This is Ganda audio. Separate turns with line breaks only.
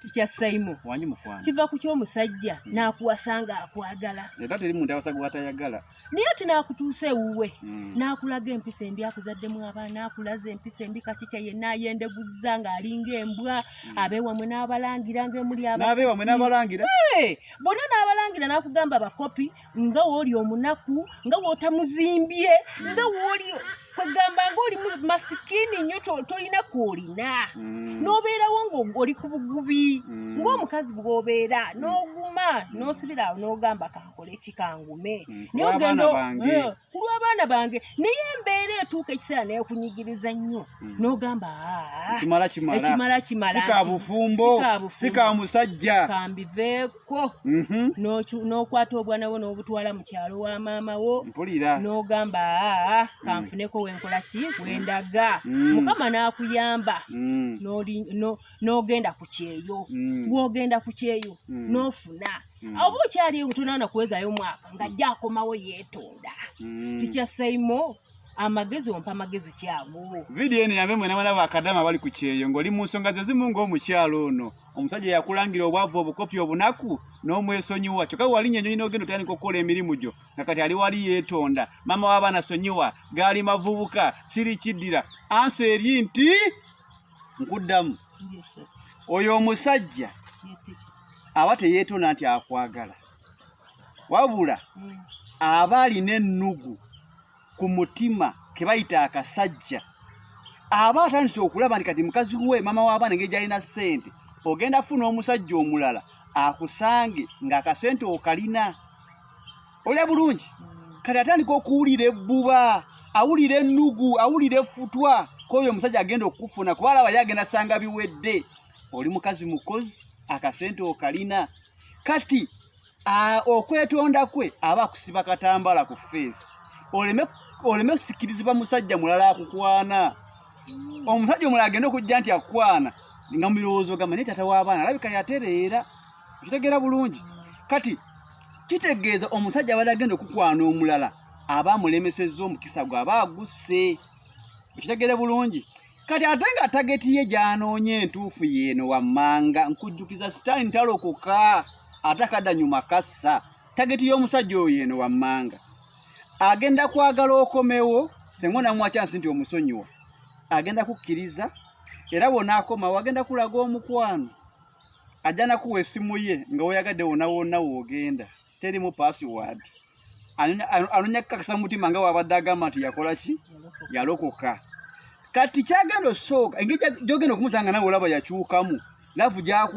tikya saimo kiva ku
kyomusajja
mm. nakuwasa nga akwagala
naye ati nakutuusa
ewuwe mm. nakulaga empisa embi akuzaddemu abaana akulaza empisa embi kakikya yenna ayendeguzza ng'alinga embwa mm. abewamwe n'abalangira ngaemuli
bona
n'abalangira nakugamba bakopi nga wooli omunaku nga wotamuzimbye nga wooli kwegamba nga oli masikini nnyo tolina kwolina mm. nobeerawo ngaoli ku bugubi mm. ngaomukazi bwobeera mm. noguma nosibiraawo nogamba kakole kikangume kulwabaana eh, bange naye embeera etuuka ekiseera nekunyigiriza nnyo nogamba ah, ekimala kimala sikabufumbo
sikamusajja kambiveeko kwo
mhm. n'okwata obwana bwo n'obutwala mu kyalo wa maama wo mpulira n'ogamba aa kanfuneko mm. wenkola ki wendaga mm. mukama n'akuyamba mm. n'ogenda ku kyeyo gwogenda ku kyeyo n'ofuna oba okyali tonaana kuwezayo omwaka ng'ajja akomawo yeetonda tikyasaimo amagezi ompa amagezi kyaguwo vidiyo eno yambe mwena
mwana bakadama bali ku kyeyo ng'oli mu nsonga ze zimu ng'omukyalo ono omusajja yakulangira obwavu obukopi obunaku n'omwesonyiwa kyokka walinnya enyonyi n'ogenda otandika okukola emirimu gyo nga kati ali wali yeetonda maama w'abaana sonyiwa gaali mavubuka siri kiddira ansa eri nti nkuddamu oyo omusajja aba teyeetonda nti akwagala wabula mm. aba alina ennugu ku mutima ke bayita akasajja aba atandise okulaba nti kati mukazi we maama w'abaana engeri gyalina ssente ogenda funa omusajja omulala akusange ng'akasente okalina olya bulungi mm. kati atandika okuwulira ebbuba awulira ennugu awulira efutwa k'oyo omusajja agenda okukufuna kuba alaba ye agenda sanga biwedde oli mukazi mukozi akasente okalina kati okwetonda kwe aba akusiba katambala ku feesi oleme oleme kusikirizibwa musajja mulala akukwana mm. omusajja omulala agenda okujja nti akukwana nga mubirowoozo gamba naye tata w'abaana alabika yatereera okitegeera bulungi kati kitegeeza omusajja abadde agenda okukwana omulala aba amulemesezza omukisa gwe aba agusse okitegeere bulungi kati ate nga tageti ye gy'anoonya entuufu yeeno wammanga nkujjukiza sitaani ntalokoka ate akadanyuma kassa tageti y'omusajja oyo yeeno wammanga agenda kwagala okomewo senga onamuwa kyansi nti omusonyiwa agenda kukkiriza era wona akomawo agenda kulaga omukwano ajja nakuwa esimu ye nga woyagadde wona wonna woogenda terimu password anonya kukakasa mutima nga wabadde agamba nti yakola ki yalokoka kati kyagenda osooka engeri gyogenda okumuzanga nawe olaba yakyukamu lavu gyaku